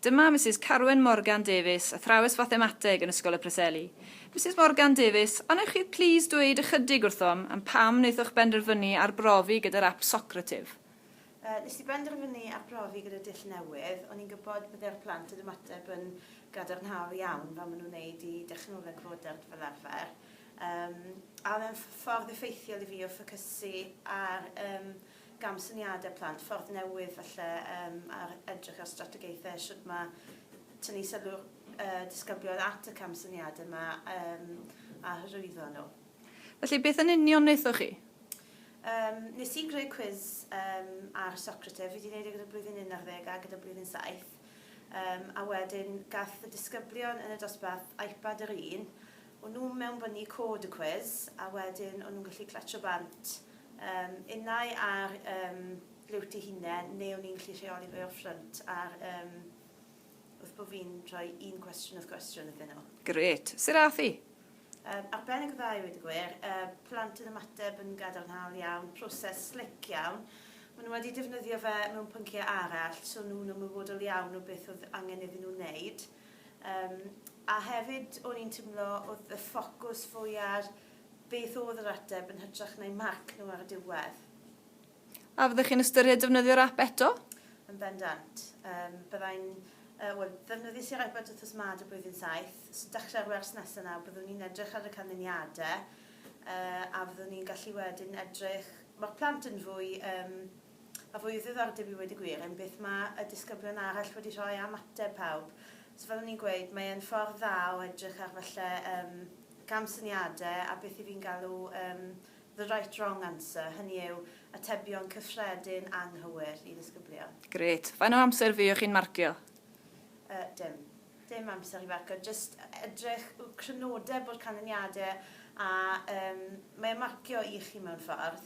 Dyma Misus Carwyn Morgan Davies, athrawes fathemateg yn Ysgol y Preseli. Misus Morgan Davies, a wnewch chi plîs dweud ychydig wrthom am pam wnaethoch benderfynu arbrofi gyda'r ap Socrative? Yy, nes i benderfynu arbrofi gyda dull newydd, o'n i'n gwybod bydde'r plant yn ymateb yn gadarnhaol iawn fel ma' nhw'n neud i dechnoleg fodern fel arfer, yym a o'dd e'n ff- ffordd effeithiol i fi o ffocysu ar yym gamsyniadau plant, ffordd newydd falle um, ar edrych ar strategaethau, sut mae tynnu sylw'r uh, disgyblion at y camsyniadau yma um, a hyrwyddo nhw. Felly, beth yn union wnaethoch chi? Um, nes i greu cwiz um, ar Socrates, fi wedi gwneud e gyda blwyddyn 11 a gyda blwyddyn 7, um, a wedyn gath y disgyblion yn y dosbarth iPad yr un, O'n nhw'n mewnbynnu cod y cwis a wedyn o'n nhw'n gallu clatio bant yym innau ar yym liwt ei hunen neu o'n i'n gallu rheoli fe o'r ffrynt ar yym wrth bo' fi'n rhoi un cwestiwn wrth gwestiwn iddyn nhw. Grêt! Sut ath hi? Yym, arbennig o dda i weud y gwir. Y plant yn ymateb yn gadarnhaol iawn, proses slic iawn. Maen nhw wedi defnyddio fe mewn pynciau arall, so nhw'n ymwybodol iawn o beth oedd angen iddyn nhw wneud. Yym a hefyd o'n i'n timlo o'dd y ffocws fwy ar beth o'dd yr ateb yn hytrach na'u marc nhw ar y diwedd. A fyddech chi'n ystyried defnyddio'r ap eto? Yn bendant. Yym byddai'n yy wel ddefnyddies i'r iPad wthnos 'ma dy blwyddyn saith, so dechre'r wers nesa 'na byddwn i'n edrych ar y canlyniade yy a fyddwn ni'n gallu wedyn edrych ma'r plant yn fwy yym A fwy o ddiddordeb i weud y gwir yn beth mae y disgyblion arall wedi rhoi am ateb pawb. So fel o'n i'n gweud, mae e'n ffordd dda o edrych ar falle yym camsyniadau a beth 'y fi'n galw yym the right wrong answer, hynny yw atebion cyffredin anghywir i ddisgyblion. Grêt. Faint o amser fuoch chi'n marcio? Yy dim. Dim amser i farcio, jyst edrych w- crynodeb o'r canlyniadau a yym mae e'n marcio i chi mewn ffordd.